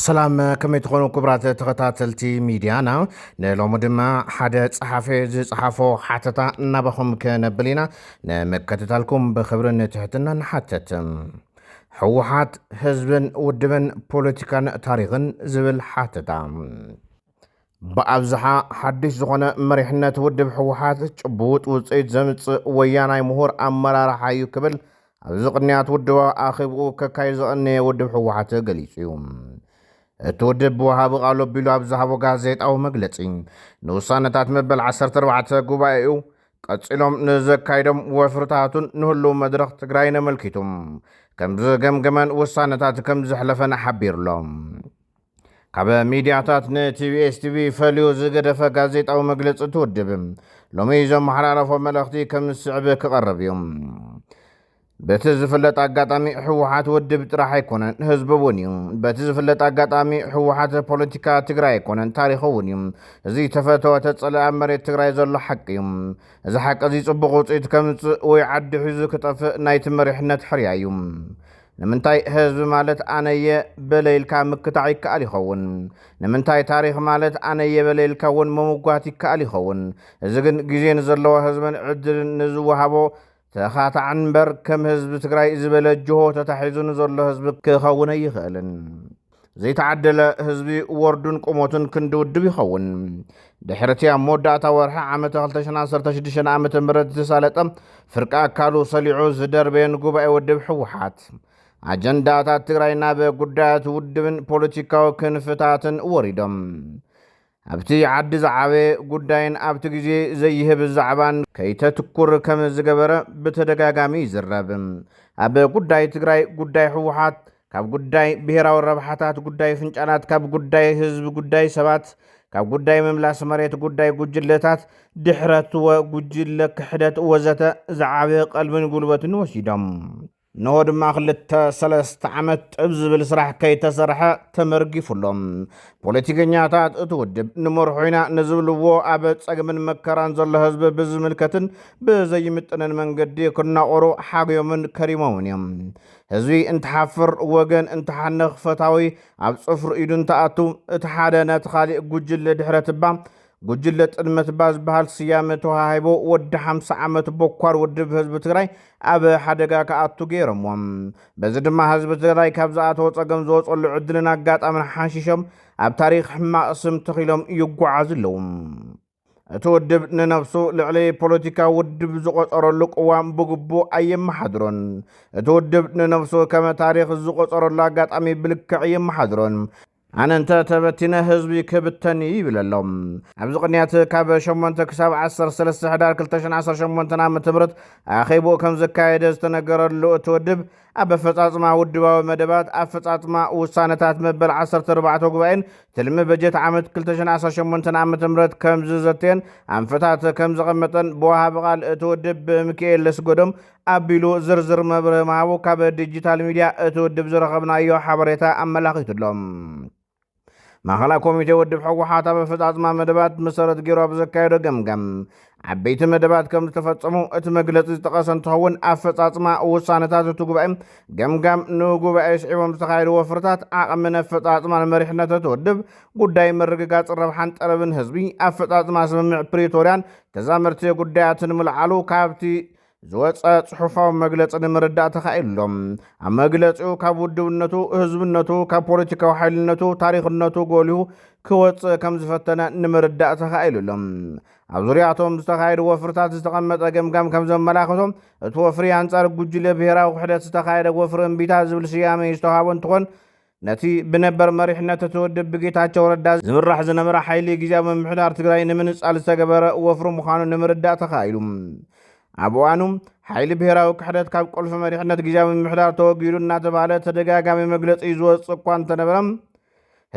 ሰላም ከመይ ትኾኑ ክቡራት ተኸታተልቲ ሚድያና ንሎሚ ድማ ሓደ ጸሓፊ ዝጸሓፎ ሓተታ እናባኹም ከነብል ኢና ንምከትታልኩም ብክብርን ትሕትና ንሓተት ሕወሓት ህዝብን ውድብን ፖለቲካን ታሪኽን ዝብል ሓተታ ብኣብዝሓ ሓድሽ ዝኾነ መሪሕነት ውድብ ህወሓት ጭቡጥ ውፅኢት ዘምፅእ ወያናይ ምሁር ኣመራርሓ እዩ ክብል ኣብዚ ቅንያት ውድባዊ ኣኼብኡ ከካይድ ዘቐነየ ውድብ ህወሓት ገሊፁ እዩ። እቲ ውድብ ብወሃቢ ቃሉ ኣቢሉ ኣብ ዝሃቦ ጋዜጣዊ መግለፂ ንውሳነታት መበል ዓሰርተ ኣርባዕተ ጉባኤኡ ቀፂሎም ንዘካይዶም ወፍርታቱን ንህልው መድረኽ ትግራይን ኣመልኪቱ ከምዝገምገመን ውሳነታት ከምዘሕለፈን ሓቢሩ'ሎ። ካብ ሚድያታት ንቲቢኤስ ቲቪ ፈልዩ ዝገደፈ ጋዜጣዊ መግለፂ እቲ ውድብ ሎሚ ዘመሓላለፎ መልእኽቲ ከም ዝስዕብ ክቐርብ እዩ። በቲ ዝፍለጥ ኣጋጣሚ ህወሓት ውድብ ጥራሕ ኣይኮነን፣ ህዝቢ እውን እዩ። በቲ ዝፍለጥ ኣጋጣሚ ህወሓት ፖለቲካ ትግራይ ኣይኮነን፣ ታሪኹ እውን እዩ። እዚ ተፈተወ ተፀልአ ኣብ መሬት ትግራይ ዘሎ ሓቂ እዩ። እዚ ሓቂ እዚ ፅቡቕ ውፅኢት ከምፅእ ወይ ዓዲ ሒዙ ክጠፍእ ናይቲ መሪሕነት ሕርያ እዩ። ንምንታይ ህዝቢ ማለት ኣነየ በለ ኢልካ ምክታዕ ይከኣል ይኸውን። ንምንታይ ታሪኽ ማለት ኣነየ በለ ኢልካ እውን ምምጓት ይከኣል ይኸውን። እዚ ግን ግዜ ንዘለዎ ህዝብን ዕድልን ንዝወሃቦ ተኻታዕን እምበር ከም ህዝቢ ትግራይ ዝበለ ጅሆ ተታሒዙ ንዘሎ ህዝቢ ክኸውን ኣይኽእልን። ዘይተዓደለ ህዝቢ ወርዱን ቁሞቱን ክንዲ ውድብ ይኸውን። ድሕርቲ ኣብ መወዳእታ ወርሒ ዓመተ 216 ዓ ም ዝሳለጠ ፍርቂ ኣካሉ ሰሊዑ ዝደርበየን ጉባኤ ውድብ ህወሓት ኣጀንዳታት ትግራይ ናብ ጉዳያት ውድብን ፖለቲካዊ ክንፍታትን ወሪዶም ኣብቲ ዓዲ ዝዓበየ ጉዳይን ኣብቲ ግዜ ዘይህብ ዛዕባን ከይተትኩር ከም ዝገበረ ብተደጋጋሚ ይዝረብ። ኣብ ጉዳይ ትግራይ ጉዳይ ህወሓት ካብ ጉዳይ ብሄራዊ ረብሓታት ጉዳይ ፍንጫላት ካብ ጉዳይ ህዝቢ ጉዳይ ሰባት ካብ ጉዳይ ምምላስ መሬት ጉዳይ ጉጅለታት ድሕረት ወ ጉጅለ ክሕደት ወዘተ ዝዓበየ ቀልብን ጉልበትን ወሲዶም። እነሆ ድማ ክልተ ሰለስተ ዓመት ጥብ ዝብል ስራሕ ከይተሰርሐ ተመርጊፉ ኣሎ። ፖለቲከኛታት እቲ ውድብ ንመርሑ ኢና ንዝብልዎ ኣብ ጸግምን መከራን ዘሎ ህዝቢ ብዝምልከትን ብዘይምጥንን መንገዲ ክናቆሩ ሓግዮምን ከሪሞምን እዮም። ህዝቢ እንትሓፍር ወገን እንትሓንኽ ፈታዊ ኣብ ጽፍሩ ኢዱ እንትኣቱ እቲ ሓደ ነቲ ካሊእ ጉጅለ ድሕረትባ ጉጅለ ጥልመት እባ ዝበሃል ስያመ ተዋሃሂቦ ወዲ ሓምሳ ዓመት ቦኳር ውድብ ህዝቢ ትግራይ ኣብ ሓደጋ ክኣቱ ገይሮምዎ። በዚ ድማ ህዝቢ ትግራይ ካብ ዝኣተዎ ጸገም ዝወጸሉ ዕድልን ኣጋጣምን ሓንሺሾም ኣብ ታሪኽ ሕማቕ ስም ተኺሎም ይጓዓዙ ኣለዉ። እቲ ውድብ ንነብሱ ልዕሊ ፖለቲካዊ ውድብ ዝቖጸረሉ ቅዋም ብግቡእ ኣየመሓድሮን። እቲ ውድብ ንነብሱ ከመ ታሪኽ ዝቖጸረሉ ኣጋጣሚ ብልክዕ ኣየመሓድሮን። ኣነ እንተ ተበቲነ ህዝቢ ክብተን እዩ ይብል ኣሎ። ኣብዚ ቅንያት ካብ 8 ክሳብ 13 ሕዳር 2018 ዓ.ም ኣኼብኡ ከም ዘካየደ ዝተነገረሉ እቲ ውድብ ኣብ ኣፈጻጽማ ውድባዊ መደባት፣ ኣፈጻጽማ ውሳነታት መበል 14 ጉባኤን ትልሚ በጀት ዓመት 2018 ዓ.ም ከም ዝዘተየን ኣንፈታት ከም ዘቐመጠን ብወሃቢ ቃል እቲ ውድብ ብምክኤል ለስጎዶም ኣቢሉ ዝርዝር መብርሂ ምሃቡ ካብ ዲጂታል ሚድያ እቲ ውድብ ዝረኸብናዮ ሓበሬታ ኣመላኺቱ'ሎ። ማእኸላይ ኮሚቴ ውድብ ህወሓት ኣብ ኣፈፃፅማ መደባት መሰረት ገይሩ ኣብ ዘካየዶ ገምጋም ዓበይቲ መደባት ከም ዝተፈፀሙ እቲ መግለፂ ዝጠቐሰ እንትኸውን ኣፈፃፅማ ውሳነታት እቲ ጉባኤ ገምጋም ንጉባኤ ስዒቦም ዝተኻየዱ ወፍርታት ዓቕምን ኣፈፃፅማን መሪሕነት እቲ ውድብ ጉዳይ ምርግጋፅ ረብሓን ጠለብን ህዝቢ ኣፈፃፅማ ስምምዕ ፕሪቶርያን ተዛመርቲ ጉዳያትን ምልዓሉ ካብቲ ዝወፀ ጽሑፋዊ መግለጺ ንምርዳእ ተኻኢሎ። ኣብ መግለጺኡ ካብ ውድብነቱ፣ ህዝብነቱ፣ ካብ ፖለቲካዊ ሓይልነቱ፣ ታሪኽነቱ ጎሊሁ ክወጽእ ከም ዝፈተነ ንምርዳእ ተኻኢሉ ኣሎ። ኣብ ዙርያቶም ዝተኻየዱ ወፍርታት ዝተቐመጠ ገምጋም ከም ዘመላኽቶ እቲ ወፍሪ ኣንጻር ጉጅለ ብሄራዊ ክሕደት ዝተኻየደ ወፍሪ እምቢታ ዝብል ስያሜ ዝተዋሃቦ እንትኾን ነቲ ብነበር መሪሕነት እቲ ውድብ ብጌታቸው ረዳ ዝምራሕ ዝነበረ ሓይሊ ግዜያዊ ምምሕዳር ትግራይ ንምንጻል ዝተገበረ ወፍሪ ምዃኑ ንምርዳእ ተኻኢሉ። ኣብ እዋኑ ሓይሊ ብሔራዊ ክሕደት ካብ ቁልፊ መሪሕነት ግዜያዊ ምምሕዳር ተወጊዱ እናተባህለ ተደጋጋሚ መግለጺ ዝወጽእ እኳ እንተነበረ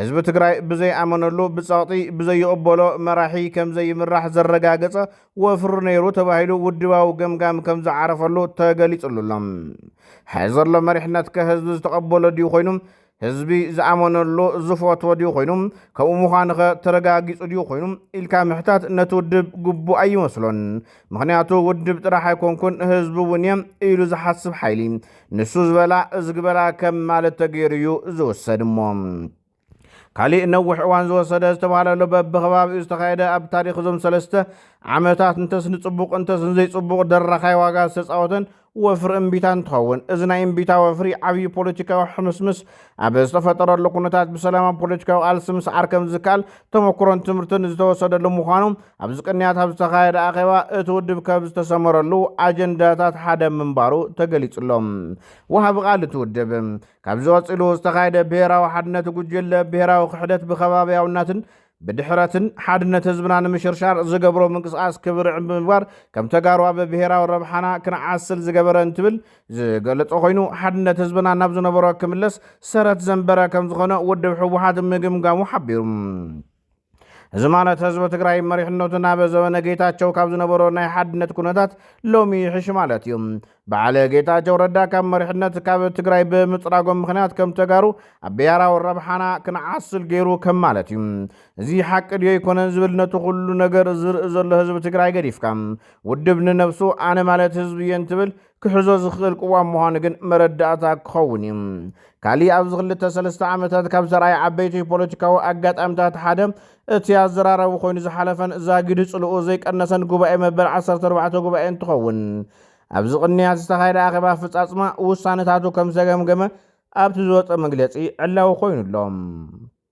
ህዝቢ ትግራይ ብዘይኣመነሉ ብጸቕጢ ብዘይቕበሎ መራሒ ከምዘይምራሕ ዘረጋገጸ ወፍሪ ነይሩ ተባሂሉ ውድባዊ ገምጋም ከም ዝዓረፈሉ ተገሊጽሉ ኣሎ። ሕዚ ዘሎ መሪሕነት ከ ህዝቢ ዝተቐበሎ ድዩ ኮይኑ? ህዝቢ ዝኣመነሉ ዝፈትዎ ድዩ ኮይኑ? ከምኡ ምዃኑ ኸ ተረጋጊጹ ድዩ ኮይኑ? ኢልካ ምሕታት ነቲ ውድብ ግቡእ ኣይመስሎን። ምኽንያቱ ውድብ ጥራሕ ኣይኮንኩን ህዝቢ እውን እየ ኢሉ ዝሓስብ ሓይሊ ንሱ ዝበላ እዝግበላ ከም ማለት ተገይሩ እዩ ዝውሰድ እሞ ካሊእ ነዊሕ እዋን ዝወሰደ ዝተባሃለሉ በብከባቢኡ ዝተኻየደ ኣብ ታሪክ እዞም ሰለስተ ዓመታት እንተስ ንፅቡቅ እንተስ ንዘይፅቡቅ ደራኻይ ዋጋ ዝተፃወተን ወፍሪ እምቢታ እንትኸውን እዚ ናይ እምቢታ ወፍሪ ዓብዪ ፖለቲካዊ ሕምስምስ ኣብ ዝተፈጠረሉ ኩነታት ብሰላማዊ ፖለቲካዊ ቃልሲ ምስዓር ከም ዝከኣል ተመክሮን ትምህርትን ዝተወሰደሉ ምዃኑ ኣብዚ ቅንያት ኣብ ዝተኻየደ ኣኼባ እቲ ውድብ ከብ ዝተሰመረሉ ኣጀንዳታት ሓደ ምንባሩ ተገሊጹሎም ወሃቢ ቃል እቲ ውድብ ካብዚ ቀጺሉ ዝተኻየደ ብሄራዊ ሓድነት ጉጅለ ብሄራዊ ክሕደት ብከባብያውናትን ብድሕረትን ሓድነት ህዝብና ንምሽርሻር ዝገብሮ ምንቅስቓስ ክብርዕ ብምግባር ከም ተጋሩ ኣብ ብሄራዊ ረብሓና ክንዓስል ዝገበረ እንትብል ዝገለጾ ኮይኑ ሓድነት ህዝብና ናብ ዝነበሮ ክምለስ ሰረት ዘንበረ ከም ዝኾነ ውድብ ሕወሓት ምግምጋሙ ሓቢሩ። እዚ ማለት ህዝቢ ትግራይ መሪሕነቱ ናብ ዘበነ ጌታቸው ካብ ዝነበሮ ናይ ሓድነት ኩነታት ሎሚ ይሕሽ ማለት እዩ። በዓለ ጌታቸው ረዳ ካብ መሪሕነት ካብ ትግራይ ብምፅራጎም ምክንያት ከም ተጋሩ ኣብ ብሄራዊ ረብሓና ክንዓስል ገይሩ ከም ማለት እዩ። እዚ ሓቂ ድዮ ኣይኮነን ዝብል ነቲ ኩሉ ነገር ዝርኢ ዘሎ ህዝቢ ትግራይ ገዲፍካ ውድብ ንነብሱ ኣነ ማለት ህዝቢ እየ እንትብል ክሕዞ ዝኽእል ቅዋም ምዃኑ ግን መረዳእታ ክኸውን እዩ። ካሊእ ኣብዚ ክልተ ሰለስተ ዓመታት ካብ ዘርኣየ ዓበይቲ ፖለቲካዊ ኣጋጣምታት ሓደ እቲ ኣዘራራቢ ኮይኑ ዝሓለፈን ዛጊዱ ጽልኡ ዘይቀነሰን ጉባኤ መበል ዓሰርተ ኣርባዕተ ጉባኤ እንትኸውን ኣብዚ ቅንያት ዝተኻየደ ኣኼባ ኣፈጻጽማ ውሳነታቱ ከምዝተገምገመ ኣብቲ ዝወጸ መግለጺ ዕላዊ ኮይኑ ኣሎ።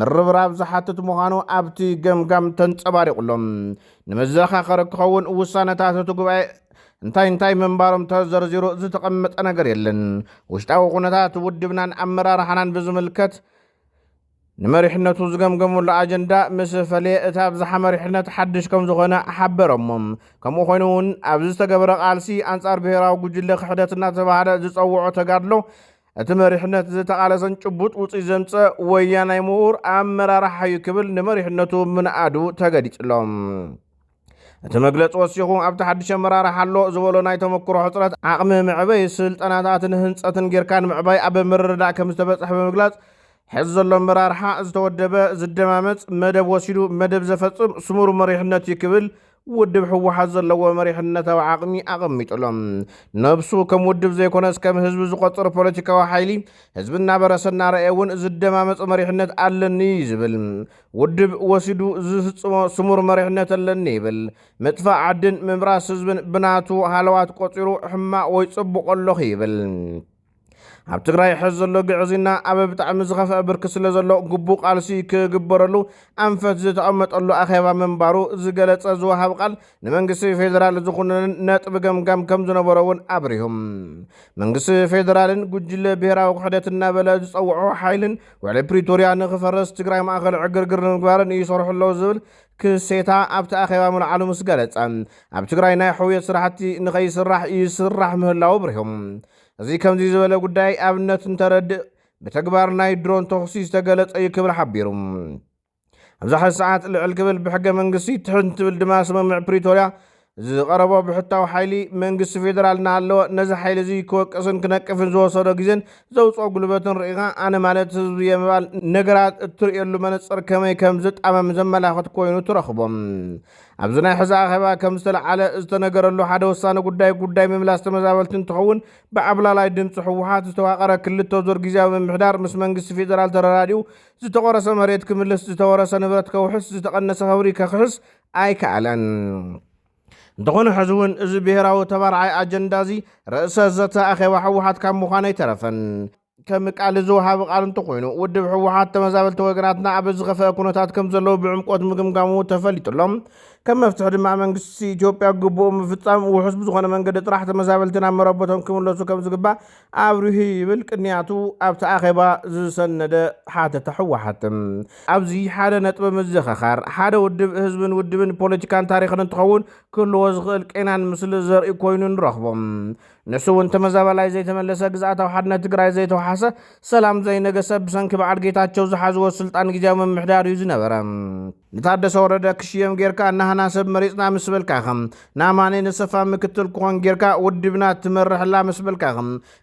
ምርብራብ ዝሓትት ምዃኑ ኣብቲ ገምጋም ተንጸባሪቑ ኣሎ። ንመዘኻኸሪ ክኸውን ውሳነታት እቲ ጉባኤ እንታይ እንታይ ምንባሮም ተዘርዚሩ ዝተቐመጠ ነገር የለን። ውሽጣዊ ኩነታት ውድብናን ኣመራርሓናን ብዝምልከት ንመሪሕነቱ ዝገምገመሉ ኣጀንዳ ምስ ፈለየ እቲ ኣብዝሓ መሪሕነት ሓድሽ ከም ዝኾነ ሓበረሞም። ከምኡ ኮይኑ እውን ኣብዚ ዝተገበረ ቃልሲ ኣንጻር ብሔራዊ ጉጅለ ክሕደት እናተባህለ ዝጸውዖ ተጋድሎ እቲ መሪሕነት ዝተቓለሰን ጭቡጥ ውፅኢት ዘምፀእ ወያናይ ምሁር ኣመራርሓ እዩ ክብል ንመሪሕነቱ ምንኣዱ ተገሊጹሎ። እቲ መግለፂ ወሲኹ ኣብቲ ሓድሽ ኣመራርሓ ኣሎ ዝበሎ ናይ ተመክሮ ሕፅረት ዓቕሚ መዕበይ ስልጠናታትን ህንፀትን ጌርካ ንምዕባይ ኣብ ምርድዳእ ከም ዝተበፅሐ ብምግላፅ ሕዚ ዘሎ ኣመራርሓ ዝተወደበ ዝደማመፅ መደብ ወሲዱ መደብ ዘፈፅም ስሙር መሪሕነት እዩ ክብል ውድብ ህወሓት ዘለዎ መሪሕነታዊ ዓቕሚ ኣቐሚጡ ኣሎ። ነብሱ ከም ውድብ ዘይኮነስ ከም ህዝቢ ዝቖጽር ፖለቲካዊ ሓይሊ፣ ህዝቢ እናበረሰ እናረኣየ እውን ዝደማመጽ መሪሕነት ኣለኒ እዩ ዝብል። ውድብ ወሲዱ ዝፍጽሞ ስሙር መሪሕነት ኣለኒ ይብል። ምጥፋእ ዓድን ምብራስ ህዝብን ብናቱ ሃለዋት ቆጺሩ ሕማቕ ወይ ጽቡቕ ኣለኹ ይብል። ኣብ ትግራይ ሕዚ ዘሎ ግዕዝይና ኣብ ብጣዕሚ ዝኸፍአ ብርኪ ስለ ዘሎ ግቡእ ቃልሲ ክግበረሉ ኣንፈት ዝተቐመጠሉ ኣኼባ ምንባሩ ዝገለጸ ዝወሃብ ቃል ንመንግስቲ ፌዴራል ዝኹንንን ነጥቢ ገምጋም ከም ዝነበሮ እውን ኣብሪሁ። መንግስቲ ፌዴራልን ጉጅለ ብሔራዊ ክሕደት እናበለ ዝጸውዖ ሓይልን ውዕሊ ፕሪቶሪያ ንክፈርስ ትግራይ ማእኸል ዕግርግር ንምግባርን ይሰርሑ ኣለዉ ዝብል ክሴታ ኣብቲ ኣኼባ ምልዓሉ ምስ ገለጸ፣ ኣብ ትግራይ ናይ ሕውየት ስራሕቲ ንኸይስራሕ ይስራሕ ምህላዉ ኣብሪሁ። እዚ ከምዚ ዝበለ ጉዳይ ኣብነት እንተረድእ ብተግባር ናይ ድሮን ተኹሲ ዝተገለጸ እዩ ክብል ሓቢሩ። ኣብዛ ሕዚ ሰዓት ልዕል ክብል ብሕገ መንግስቲ ትሕት እንትብል ድማ ስምምዕ ፕሪቶርያ እዚ ዝቐረቦ ብሕታዊ ሓይሊ መንግስቲ ፌደራል እናሃለወ ነዚ ሓይሊ እዚ ክወቅስን ክነቅፍን ዝወሰዶ ግዜን ዘውፅኦ ጉልበትን ርኢኻ ኣነ ማለት ህዝቢ እየ ምባል ነገራት እትርእየሉ መነፅር ከመይ ከም ዝጣመም ዘመላኽት ኮይኑ ትረኽቦ። ኣብዚ ናይ ሕዚ ኣኼባ ከም ዝተልዓለ ዝተነገረሉ ሓደ ወሳኒ ጉዳይ ጉዳይ ምምላስ ተመዛበልቲ እንትኸውን ብዓብላላይ ድምፂ ህወሓት ዝተዋቐረ ክልተ ዙር ግዝያዊ ምምሕዳር ምስ መንግስቲ ፌደራል ተረዳዲኡ ዝተቖረሰ መሬት ክምልስ፣ ዝተወረሰ ንብረት ከውሕስ፣ ዝተቐነሰ ክብሪ ከኽሕስ፣ ኣይከኣለን። እንተኾነ ሕዚ እውን እዚ ብሄራዊ ተባራዓይ ኣጀንዳ እዚ ርእሰ ዘተ ኣኼባ ህወሓት ካብ ምዃን ኣይተረፈን። ከም ቃል እዚ ወሃቢ ቃል እንተኾይኑ ውድብ ህወሓት ተመዛበልቲ ወገናትና ኣብ ዝኸፈአ ኩነታት ከም ዘለዉ ብዕምቆት ምግምጋሙ ተፈሊጡ ኣሎ። ከም መፍትሒ ድማ መንግስቲ ኢትዮጵያ ግቡኡ ምፍፃም ውሑስ ብዝኾነ መንገዲ ጥራሕ ተመዛበልቲ ናብ መረበቶም ክምለሱ ከም ዝግባእ ኣብርሁ ይብል ቅንያቱ ኣብቲ ኣኼባ ዝሰነደ ሓተታ ህወሓት። ኣብዚ ሓደ ነጥቢ ምዝኸኻር፣ ሓደ ውድብ ህዝብን ውድብን ፖለቲካን ታሪኽን እንትኸውን ክህልዎ ዝኽእል ቄናን ምስሊ ዘርኢ ኮይኑ ንረኽቦ። ንሱ እውን ተመዛባላይ ዘይተመለሰ፣ ግዝኣታዊ ሓድነት ትግራይ ዘይተውሓሰ፣ ሰላም ዘይነገሰ፣ ብሰንኪ በዓል ጌታቸው ዝሓዝዎ ስልጣን ግዝያዊ ምምሕዳር እዩ ዝነበረ። ንታደሰ ወረደ ክሽየም ጌርካ ናህና ሰብ መሪፅና ምስ በልካኸ ንኣማኔ ነሰፋ ምክትል ክኾን ጌርካ ውድብና ትመርሕላ ምስ በልካ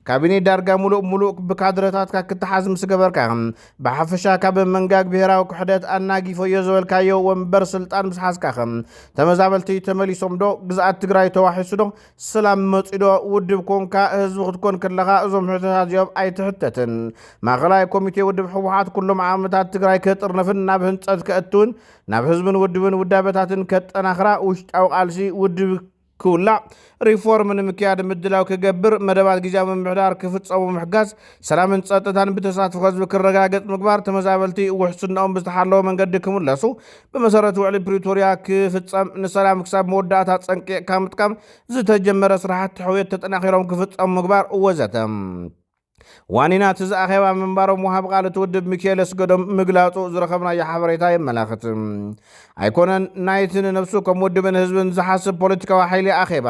ካቢኔ ዳርጋ ሙሉእ ሙሉእ ብካድረታትካ ክተሓዝ ምስ ገበርካ ብሓፈሻ ካብ መንጋግ ብሄራዊ ክሕደት ኣናጊፎዮ ዝበልካዮ ወንበር ስልጣን ምስ ሓዝካ ተመዛበልቲ ተመሊሶም ዶ ግዝኣት ትግራይ ተዋሒሱ ዶ ሰላም መፂ ዶ ውድብ ኮንካ ህዝቢ ክትኮን ከለኻ እዞም ሕቶታት እዚኦም ኣይትሕተትን ማእኸላይ ኮሚቴ ውድብ ህወሓት ኩሎም ዓቕምታት ትግራይ ከጥርንፍን ናብ ህንፀት ከእትውን ናብ ህዝብን ውድብን ውዳበታትን ከጠናኽራ፣ ውሽጣዊ ቃልሲ ውድብ ክውላዕ፣ ሪፎርም ንምክያድ ምድላው ክገብር፣ መደባት ግዝያዊ ምምሕዳር ክፍፀሙ ምሕጋዝ፣ ሰላምን ፀጥታን ብተሳትፎ ህዝቢ ክረጋገፅ ምግባር፣ ተመዛበልቲ ውሕስንኦም ብዝተሓለወ መንገዲ ክምለሱ ብመሰረት ውዕሊ ፕሪቶሪያ ክፍፀም፣ ንሰላም ክሳብ መወዳእታ ፀንቂቕካ ምጥቃም፣ ዝተጀመረ ስራሕቲ ሕውየት ተጠናኺሮም ክፍፀሙ ምግባር ወዘተ። ዋኒና እቲ ዝኣኼባ ምንባሮም ወሃቢ ቃል እቲ ውድብ ሚኪኤል ኣስገዶም ምግላጹ ዝረኸብናዮ ሓበሬታ የመላኽት። ኣይኮነን ናይቲ ንነብሱ ከም ውድብን ህዝብን ዝሓስብ ፖለቲካዊ ሓይሊ ኣኼባ፣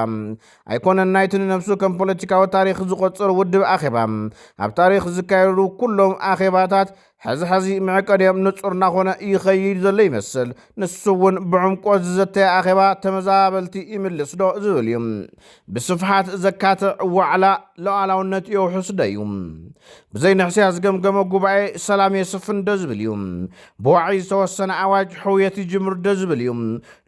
ኣይኮነን ናይቲ ንነብሱ ከም ፖለቲካዊ ታሪኽ ዝቖጽር ውድብ ኣኼባ፣ ኣብ ታሪኽ ዝካየዱ ኩሎም ኣኼባታት ሕዚ ሕዚ መዕቀኒኦም ንጹር እናኾነ ይኸይድ ዘሎ ይመስል። ንሱ እውን ብዕምቆ ዝዘተየ ኣኼባ ተመዛበልቲ ይምልስ ዶ ዝብል እዩ። ብስፍሓት ዘካትዕ ዋዕላ ሉዓላውነት የውሕስ ዶ እዩ። ብዘይ ንሕስያ ዝገምገመ ጉባኤ ሰላም የስፍን ዶ ዝብል እዩ። ብዋዒ ዝተወሰነ ኣዋጅ ሕውየት ይጅምር ዶ ዝብል እዩ።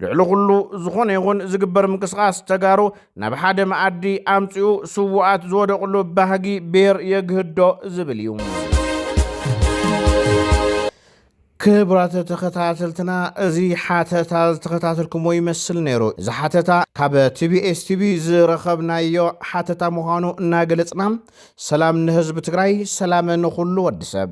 ልዕሊ ኩሉ ዝኾነ ይኹን ዝግበር ምንቅስቓስ ተጋሩ ናብ ሓደ መኣዲ ኣምጺኡ ስዉኣት ዝወደቕሉ ባህጊ ብሔር የግህዶ ዝብል እዩ። ክብራት ተኸታተልትና እዚ ሓተታ ዝተኸታተልኩሞ ይመስል ነይሩ። እዚ ሓተታ ካብ ቲቢኤስ ቲቪ ዝረኸብናዮ ሓተታ ምዃኑ እናገለጽና ሰላም ንህዝቢ ትግራይ፣ ሰላም ንኹሉ ወዲ ሰብ።